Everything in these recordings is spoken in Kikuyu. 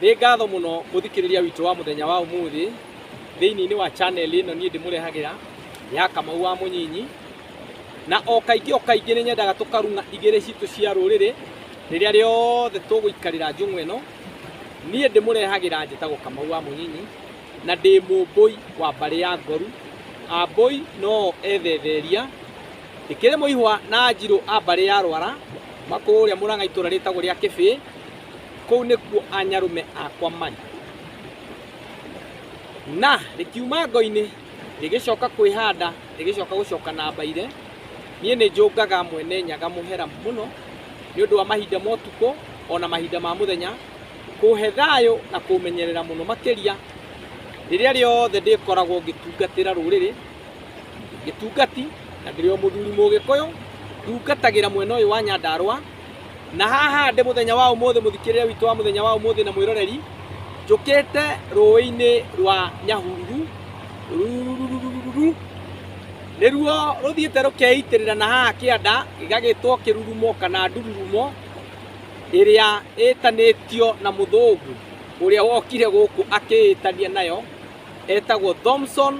Nĩ ngatho mũno mũthikĩrĩria witũ wa mũthenya wa ũmũthĩ thĩinĩ-inĩ wa channel ĩno niĩ ndĩmũrehagĩra ya Kamau wa Mũnyinyi, na o kaingĩ o kaingĩ nĩ nyendaga tũkarung'a igĩrĩ citũ cia rũrĩrĩ rĩrĩa rĩothe tũgũikarĩra njũng'wa ĩno. Niĩ ndĩmũrehagĩra njĩtagwo Kamau wa Mũnyinyi na ndĩ mũmbũi wa mbarĩ ya Ngoru. Ambũi no ethetheria, ndĩkĩrĩ mũihwa na Njirũ a mbarĩ ya Rwara makũrĩa Mũrang'a itũra rĩtagwo rĩa Kĩbĩĩ. kũu nĩkuo anyarũme akwa marĩ na rĩkiuma ngo-inĩ rĩgĩcoka kwĩhanda rĩgĩcoka gũcoka na mbaire niĩ nĩ njũngaga mwene nyaga mũhera mũno nĩ ũndũ wa mahinda ma ũtukũ ona mahinda ma mũthenya kũhe thayũ na kũmenyerera mũno makĩria rĩrĩa rĩothe ndĩkoragwo ngĩtungatĩra rũrĩrĩ gĩtungati na ndĩrĩ o mũthuri mũgĩkũyũ ndugatagĩra mwena ũyũ wa nyandarũa na haha ndĩ muthenya wa umuthi muthikirire witũ wa muthenya wa umuthi na mwiroreri njukite rũĩ-inĩ rwa nyahururu rurururururu nĩruo rũthiĩte rũkeitĩrĩra na haha kĩanda gĩgagĩtwo kĩrurumo kana ndururumo ĩrĩa ĩtanĩtio na mũthũngũ ũrĩa wokire gũkũ akĩĩtania nayo etagwo Thomson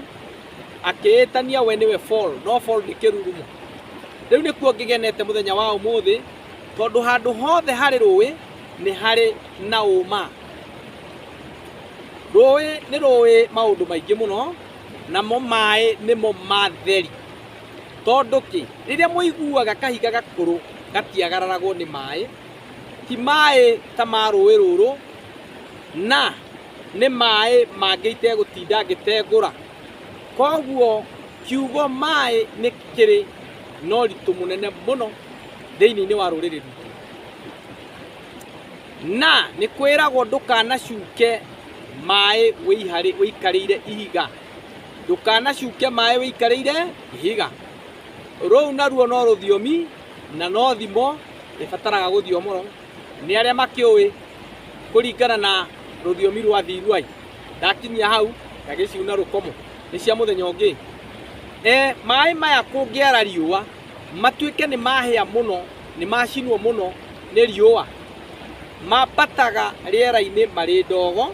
akĩĩtania we nĩwe Paul no Paul nĩ kĩrurumo rĩu nĩkuo ngĩgenete mũthenya wa ũmũthĩ tondũ handũ hothe harĩ rũĩ nĩ harĩ na ũma rũĩ nĩ rũĩ maũndũ maingĩ mũno namo maĩ nĩmo matheri tondũ kĩ rĩrĩa mũiguaga kahiga gakũrũ gatiagararagwo nĩ maĩ ti maĩ ta ma rũĩ rũrũ na nĩ maĩ mangĩ itegũtinda ngĩtengũra. Koguo kiugo maĩ nĩ kĩrĩ na ũritũ mũnene mũno thĩinĩ wa rũrĩrĩ rwitũ. Na nĩ kwĩragwo ndũkanacuke maĩ ũikarĩire ihiga, ndũkanacuke maĩ ũikarĩire ihiga. Rũu naruo no rũthiomi na no thimo ĩbataraga gũthiomwo. nĩ arĩa makĩũĩ kũringana na rũthiomi rwa thiruai ndakinyia hau ngagĩciuna rũkomo nĩ cia mũthenya ũngĩ e, maĩ maya kũngĩara riũa matuĩke nĩ mahĩa mũno nĩ macinwo mũno nĩ riũa mambataga rĩera-inĩ marĩ ndogo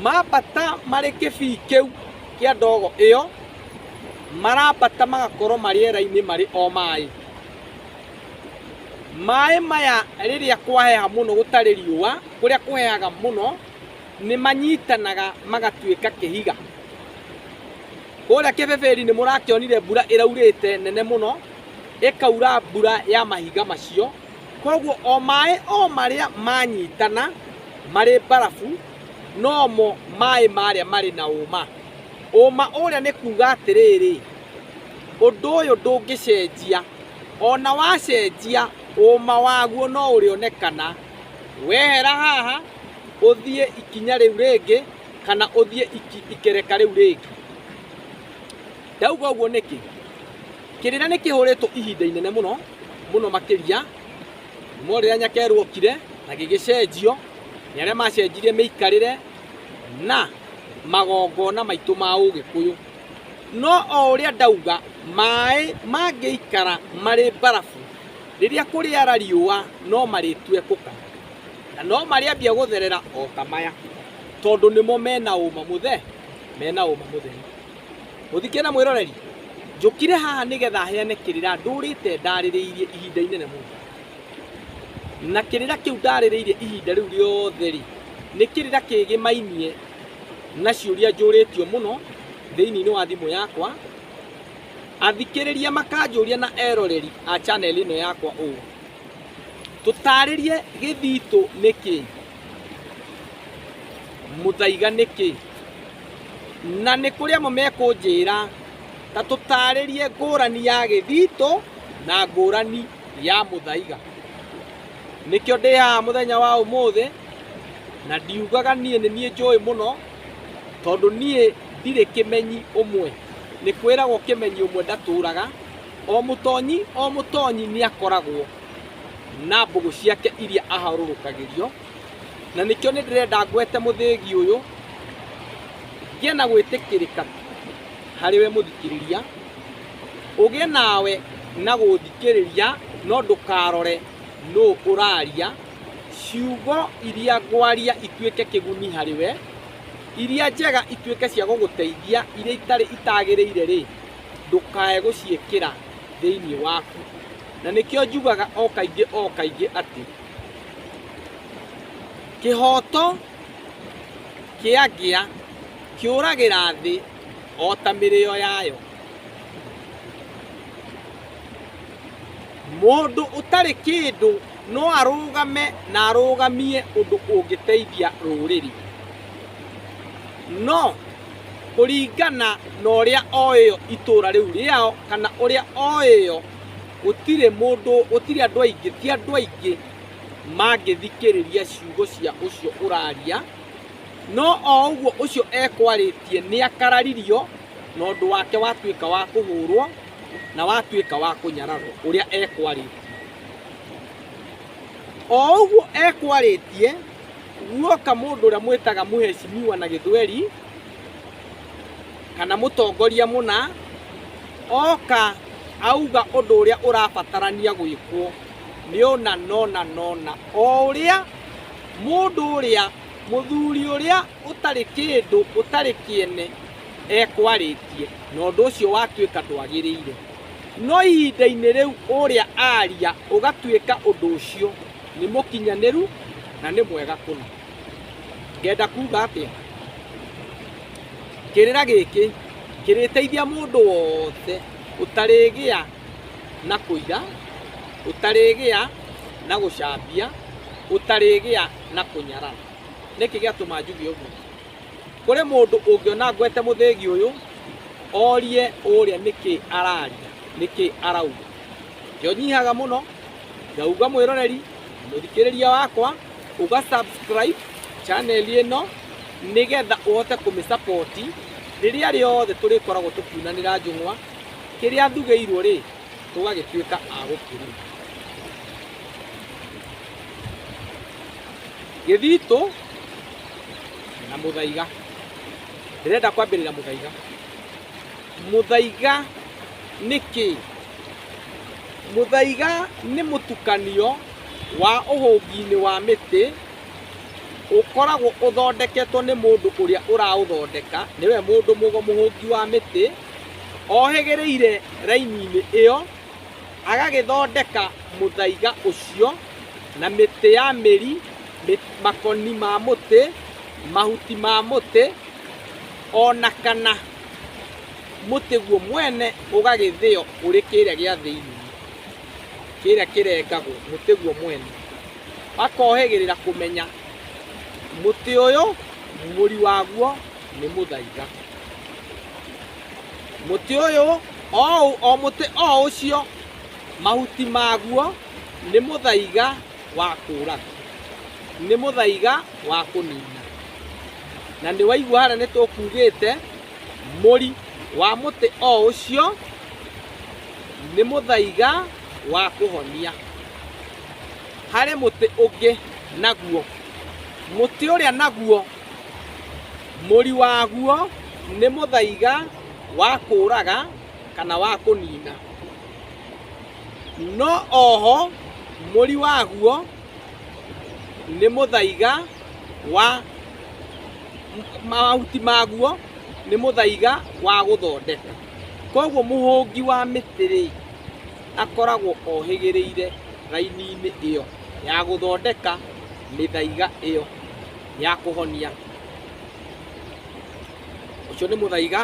mambata marĩ kĩbii kĩu kĩa ndogo ĩyo marambata magakorwo marĩera-inĩ marĩ o maĩ Maĩ maya rĩrĩa kwaheha mũno gũtarĩ riũa, kũrĩa kũhehaga mũno, nĩ manyitanaga magatuĩka kĩhiga. Kũrĩa kĩbĩbĩri nĩ mũrakĩonire mbura ĩraurĩte nene mũno, ĩkaura mbura ya mahiga macio. Koguo o maĩ o marĩa manyitana marĩ mbarabu, nomo maĩ marĩa marĩ na ũma. Ũma ũrĩa nĩ kuuga atĩrĩrĩ, ũndũ ũyũ ndũngĩcenjia. O na wacenjia, ũũma waguo no ũrĩonekana. Wehera haha, ũthiĩ ikinya rĩu rĩngĩ, kana ũthiĩ ikereka rĩu rĩngĩ. Ndauga ũguo nĩkĩ? Kĩrĩra nĩ kĩhũrĩtwo ihinda inene mũno mũno makĩria kuuma rĩrĩa nyakerwo okire na gĩgĩcenjio nĩ arĩa macenjirie mĩikarĩre na magongona maitũ ma ũgĩkũyũ. No o ũrĩa ndauga, maaĩ mangĩikara marĩ mbarabu, rĩrĩa kũrĩara riũa no marĩtue kũkara, na no marĩambia gũtherera o ta maya, tondũ nĩmo me na ũma mũthe, me na ũma mũtheri. Mũthikĩre mwĩroreri, njũkire haha nĩgetha heane kĩrĩra ndũrĩte ndarĩrĩirie ihinda inene mũno. Na kĩrĩra kĩu ndarĩrĩirie ihinda rĩu rĩothe-rĩ, nĩ kĩrĩra kĩgĩmainie. na ciũria njũrĩtio mũno thĩinĩ wa thimũ yakwa athikĩrĩria makanjũria na eroreri a channel ĩno yakwa ũũ tũtarĩrie gĩthitũ nĩ kĩ mũthaiga nĩ kĩ na nĩ kũrĩ amwe mekũnjĩra ta tũtarĩrie ngũrani ya gĩthitũ na ngũrani ya mũthaiga nĩkĩo ndĩ haha mũthenya wa ũmũthĩ na ndiugaga niĩ nĩ niĩ njũĩ mũno tondũ niĩ ndirĩ kĩmenyi ũmwe nĩ kwĩragwo kĩmenyi ũmwe ndatũraga o mũtonyi o mũtonyi nĩ akoragwo na mbũgũ ciake iria aharũrũkagĩrio na nĩkĩo nĩ ndĩrenda ngwete mũthĩgi ũyũ ngĩe na gwĩtĩkĩrĩka harĩ we mũthikĩrĩria ũgĩe nawe na gũthikĩrĩria no ndũkarore nũ ũraria, ciugo iria ngwaria ituĩke kĩguni harĩ we, iria njega ituĩke cia gũgũteithia, iria itarĩ itagĩrĩire rĩ, ndũkae gũciĩkĩra thĩinĩ waku. Na nĩkĩo njugaga o kaingĩ o kaingĩ atĩ kĩhooto kĩagĩa kĩũragĩra thĩ o ta mĩrĩo yayo. Mũndũ ũtarĩ kĩndũ no arũgame na arũgamie ũndũ ũngĩteithia rũrĩrĩ, no kũringana na ũrĩa oĩ itũra rĩu rĩao kana ũrĩa oĩ yo, gũtirĩ mũndũ, gũtirĩ andũ aingĩ, ti andũ aingĩ mangĩthikĩrĩria ciugo cia ũcio ũraria, no o ũguo ũcio ekwarĩtie nĩ akararirio. na ũndũ wake watuĩka wa kũhũrwo na watuĩka wa kũnyararwo ũrĩa ekwarĩtie o ũguo ekwarĩtie guoka mũndũ ũrĩa mwĩtaga mũhecimiwa na gĩthweri kana mũtongoria mũna oka auga ũndũ ũrĩa ũrabatarania gwĩkwo nĩ ũna nona nona o ũrĩa mũndũ ũrĩa mũthuri ũrĩa ũtarĩ kĩndũ ũtarĩ kĩene ekwarĩtie na ũndũ ũcio watuĩka ndwagĩrĩire no ihinda-inĩ rĩu ũrĩa aria ũgatuĩka ũndũ ũcio nĩ mũkinyanĩru na nĩ mwega kũna ngenda kuga atĩa kĩrĩra gĩkĩ kĩrĩteithia mũndũ wothe ũtarĩgĩa na kũira ũtarĩgĩa na gũcambia ũtarĩgĩa na kũnyarara nĩkĩ gĩatũma njuge ũguo kũrĩ mũndũ ũngĩona ngwete mũthĩgi ũyũ orie ũrĩa nĩkĩ araria nĩkĩ arauga kĩo nyihaga mũno ngauga mwĩroreri mũthikĩrĩria wakwa uga subscribe channel ĩno nĩgetha ũhote kũmĩsapoti rĩrĩa rĩothe tũrĩkoragwo tũkiunanĩra njũng'wa kĩrĩa ndugĩirwo rĩ tũgagĩtuĩka a gũkĩrima. Gĩthitũ na mũthaiga. Ndĩrenda kwambĩrĩra mũthaiga. Mũthaiga nĩ kĩ? Mũthaiga nĩ mũtukanio wa ũhũngi-inĩ wa mĩtĩ ũkoragwo ũthondeketwo nĩ mũndũ ũrĩa ũraũthondeka, nĩwe mũndũ mũhũngi wa mĩtĩ ohĩgĩrĩire raini-inĩ ĩyo, agagĩthondeka mũthaiga ũcio na mĩtĩ ya mĩri, makoni ma mũtĩ, mahuti ma mũtĩ, o na kana mũtĩ guo mwene ũgagĩthĩo ũrĩ kĩrĩa gĩa thĩinĩ, kĩrĩa kĩrengagwo, mũtĩ guo mwene. Akohĩgĩrĩra kũmenya mũtĩ ũyũ mũri waguo... nĩ mũthaiga mũtĩ ũyũ o ũ- o mũtĩ o ũcio mahuti maguo nĩ mũthaiga wa kũũraga nĩ mũthaiga wa kũnina na nĩ waigua harĩa nĩ tũkugĩte mũri wa mũtĩ o ũcio nĩ mũthaiga wa kũhonia harĩ mũtĩ ũngĩ naguo mũtĩ ũrĩa naguo Mũri waguo nĩ mũthaiga wa kũũraga kana wa kũnina. No oho mũri waguo nĩ mũthaiga wa mahuti maguo nĩ mũthaiga wa gũthondeka. Koguo mũhũngi wa mĩtĩ rĩ, akoragwo ohĩgĩrĩire raini-inĩ ĩyo ya gũthondeka mĩthaiga ĩyo. ya kũhonia ũcio nĩ mũthaiga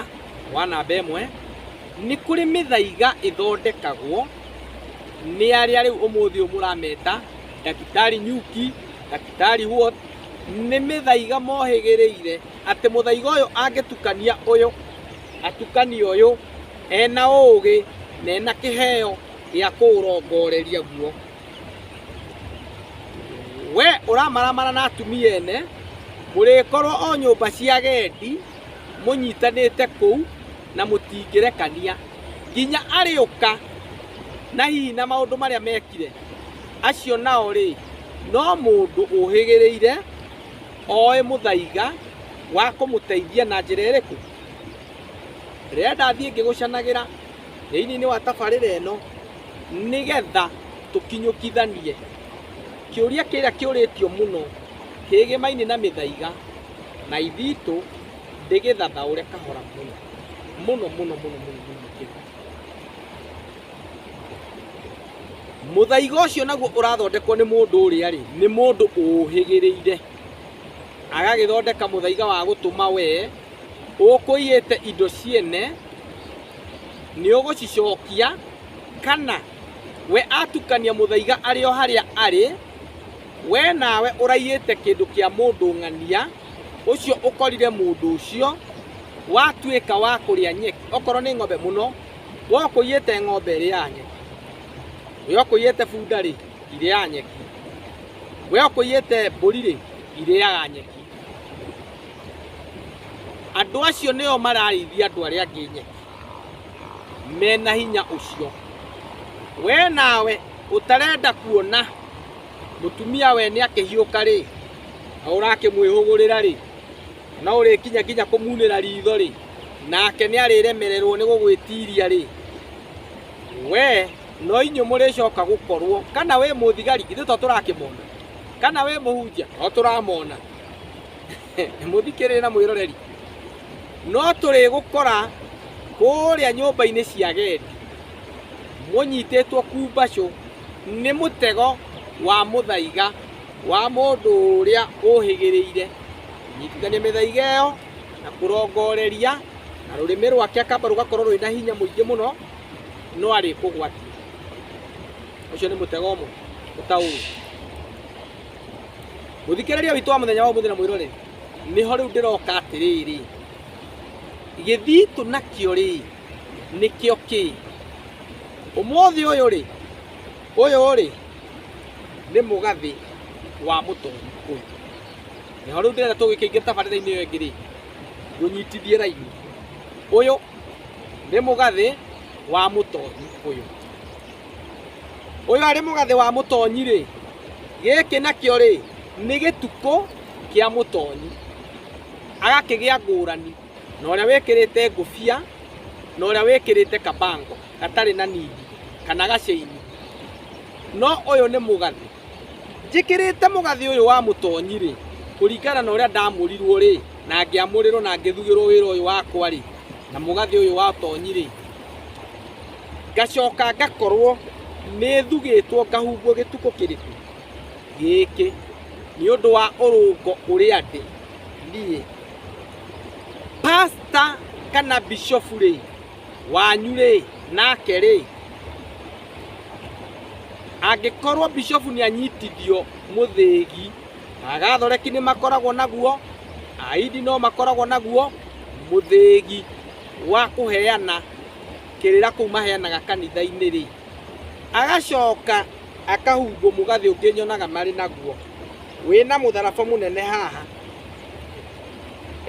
wa namba ĩmwe nĩ kũrĩ mĩthaiga ĩthondekagwo nĩ arĩa rĩu ũmũthĩ ũyũ mũrameta ndagĩtarĩ nyuki ndagĩtarĩ what nĩ mĩthaiga mohĩgĩrĩire atĩ mũthaiga ũyũ angĩtukania ũyũ atukania ũyũ ena ũũgĩ na ena kĩheo gĩa kũũrongoreria guo we ũramaramara na atumia ene mũrĩkorwo o nyũmba cia gendi mũnyitanĩte kũu na mũtingĩrekania nginya arĩũka na hihi na maũndũ marĩa mekire acio nao rĩ no mũndũ ũhĩgĩrĩire oĩ mũthaiga wa kũmũteithia na njĩra ĩrĩkũ rĩrĩa ndathiĩ ngĩgũcanagĩra thĩinĩ wa tabarĩra ĩno Nĩ getha tũkinyũkithanie kĩũria kĩrĩa kĩũrĩtio mũno kĩgĩmainĩ na mĩthaiga, na ithitũ ndĩgĩthathaũre kahora mũno mũno mũno mũno mũno mũno makĩria. Mũthaiga ũcio naguo ũrathondekwo nĩ mũndũ ũrĩa-rĩ, nĩ mũndũ ũũhĩgĩrĩire, agagĩthondeka mũthaiga wa gũtũma wee ũkũiyĩte indo ciene nĩ ũgũcicokia, kana we atukania mũthaiga arĩ o harĩa arĩ, we nawe ũraiyĩte kĩndũ kĩa mũndũ ng'ania, ũcio ũkorire mũndũ ũcio watuĩka wa kũrĩa nyeki, okorwo nĩ ng'ombe mũno, we ũkũiyĩte ng'ombe ĩrĩaga nyeki, we ũkũiyĩte bunda-rĩ, irĩaga nyeki, we ũkũiyĩte mbũri-rĩ, irĩaga nyeki. andũ acio nĩo mararĩithia andũ arĩa angĩ nyeki mena hinya ũcio we nawe ũtarenda kuona mũtumia we nĩ akĩhiũka rĩ na ũrakĩmwĩhũgũrĩra rĩ na ũrĩkinya nginya kũmunĩra ritho rĩ nake nĩ arĩremererwo nĩ gũgwĩtiria rĩ we no inyuĩ mũrĩcoka gũkorwo kana wĩ mũthigari ithuĩ to tũrakĩmona kana wĩ mũhunjia no tũramona mũthikĩrĩrĩ na mwĩroreri no tũrĩgũkora kũrĩa nyũmba-inĩ cia gendi mũnyitĩtwo kumbacũ nĩ mũtego wa mũthaiga wa mũndũ ũrĩa ũhĩgĩrĩire nyitithania mĩthaiga ĩyo na kũrongoreria na rũrĩmĩ rwake akamba rũgakorwo rwĩna hinya mũingĩ mũno no arĩkũgwatia ũcio nĩ mũtego ũmwe ũtaũĩ mũthikĩrĩria witũ wa mũthenya wa ũmũthĩ na mũirore nĩho rĩu ndĩroka atĩrĩrĩ gĩthitũ nakĩo rĩ nĩkĩo kĩ ũmũthĩ ũyũ rĩ ũyũ rĩ nĩ mũgathĩ wa mũtongoria nĩho rĩu ndĩrenda tũgĩkĩingĩra tabarĩra-inĩ ĩyo ĩngĩ rĩ mũnyitithie raini ũyũ nĩ mũgathĩ wa mũtonyi ũyũ ũyũ arĩ mũgathĩ wa mũtonyi rĩ gĩkĩ nakĩo rĩ nĩ gĩtukũ kĩa mũtonyi agakĩgĩa ngũrani na ũrĩa wĩkĩrĩte ngũbia na ũrĩa wĩkĩrĩte kabango gatarĩ na nindi kana gaceini no ũyũ nĩ mũgathĩ njĩkĩrĩte mũgathĩ ũyũ wa mũtonyi-rĩ, kũringana na ũrĩa ndamũrirwo-rĩ, na ngĩamũrĩrwo na ngĩthugĩrwo wĩra ũyũ wakwa-rĩ, na mũgathĩ ũyũ wa ũtonyi-rĩ, ngacoka ngakorwo nĩthugĩtwo ngahumbwo gĩtukũ kĩrĩkũ? Gĩkĩ, nĩ ũndũ wa ũrũngo ũrĩa ndĩ niĩ. Pastor kana bishofu-rĩ, wanyu rĩ nake rĩ angĩkorwo bishofu nĩ anyitithio mũthĩgi agathoreki nĩ makoragwo naguo aidi no makoragwo naguo mũthĩgi wa kũheana kĩrĩra kũu maheanaga kanitha-inĩ rĩ agacoka akahumbwo mũgathĩ ũngĩ nyonaga marĩ naguo wĩna mũtharaba mũnene haha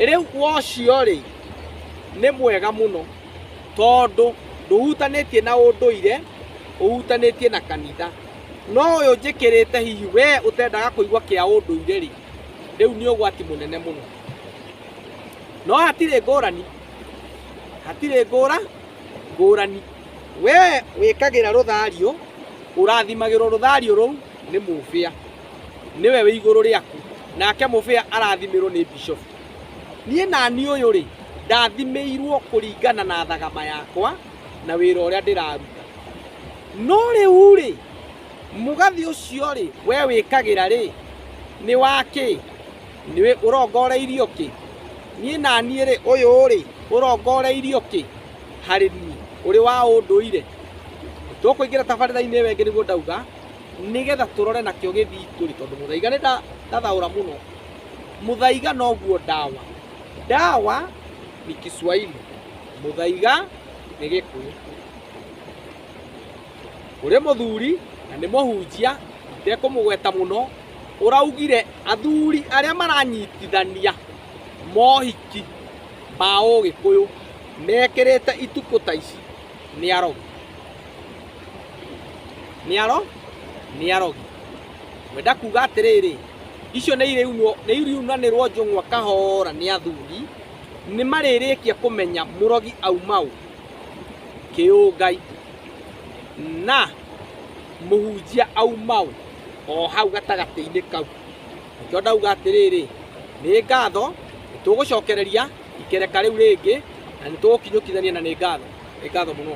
rĩu wocio-rĩ nĩ mwega mũno tondũ ndũhutanĩtie na ũndũire ũhutanĩtie na kanitha no ũyũ njĩkĩrĩte hihi we ũtendaga kũigua kĩa ũndũire rĩ rĩu nĩ ũgwati mũnene mũno no hatirĩ ngũrani hatirĩ ngũra ngũrani we wĩkagĩra rũthario ũrathimagĩrwo rũthario rũu nĩ mũbĩa nĩwe wĩ igũrũ rĩaku nake mũbĩa arathimirwo nĩ bishofu niĩ nani ũyũ rĩ ndathimĩirwo kũringana na thagama yakwa na wĩra ũrĩa ndĩraruta no rĩu rĩ mũgathi ũcio rĩ we wĩkagĩra rĩ nĩ wakĩ nĩ ũrongoreirio kĩ niĩ naniĩ rĩ ũyũ rĩ ũrongoreirio kĩ harĩ niĩ ũrĩ wa ũndũire tũkũingĩra tabarĩra-inĩ ĩyo ĩngĩ nĩguo ndauga nĩgetha tũrore nakĩo gĩthingũri tondũ mũthaiga nĩ nda- ndathaũra mũno mũthaiga noguo ndawa ndawa ni kiswahili mũthaiga nĩ gĩkũyũ ũrĩ mũthuri na nĩ mũhunjia itekũmũgweta mũno ũraugire athuri arĩa maranyitithania mohiki ma ũgĩkũyũ mekĩrĩte itukũ ta ici nĩ arogi nĩ aro nĩ arogi wenda kuga atĩrĩrĩ icio nĩ irĩunwo nĩ iriunanĩrwo njũng'wa kahora nĩ athuri nĩ marĩrĩkia kũmenya mũrogi aumau kĩũngai na mũhunjia aumau o hau gatagatĩ-inĩ kau nĩkĩo ndauga atĩrĩrĩ nĩ ngatho nĩ tũgũcokereria ikereka rĩu rĩngĩ na nĩ tũgũkinyũkithania na nĩ ngatho. Nĩ ngatho mũno.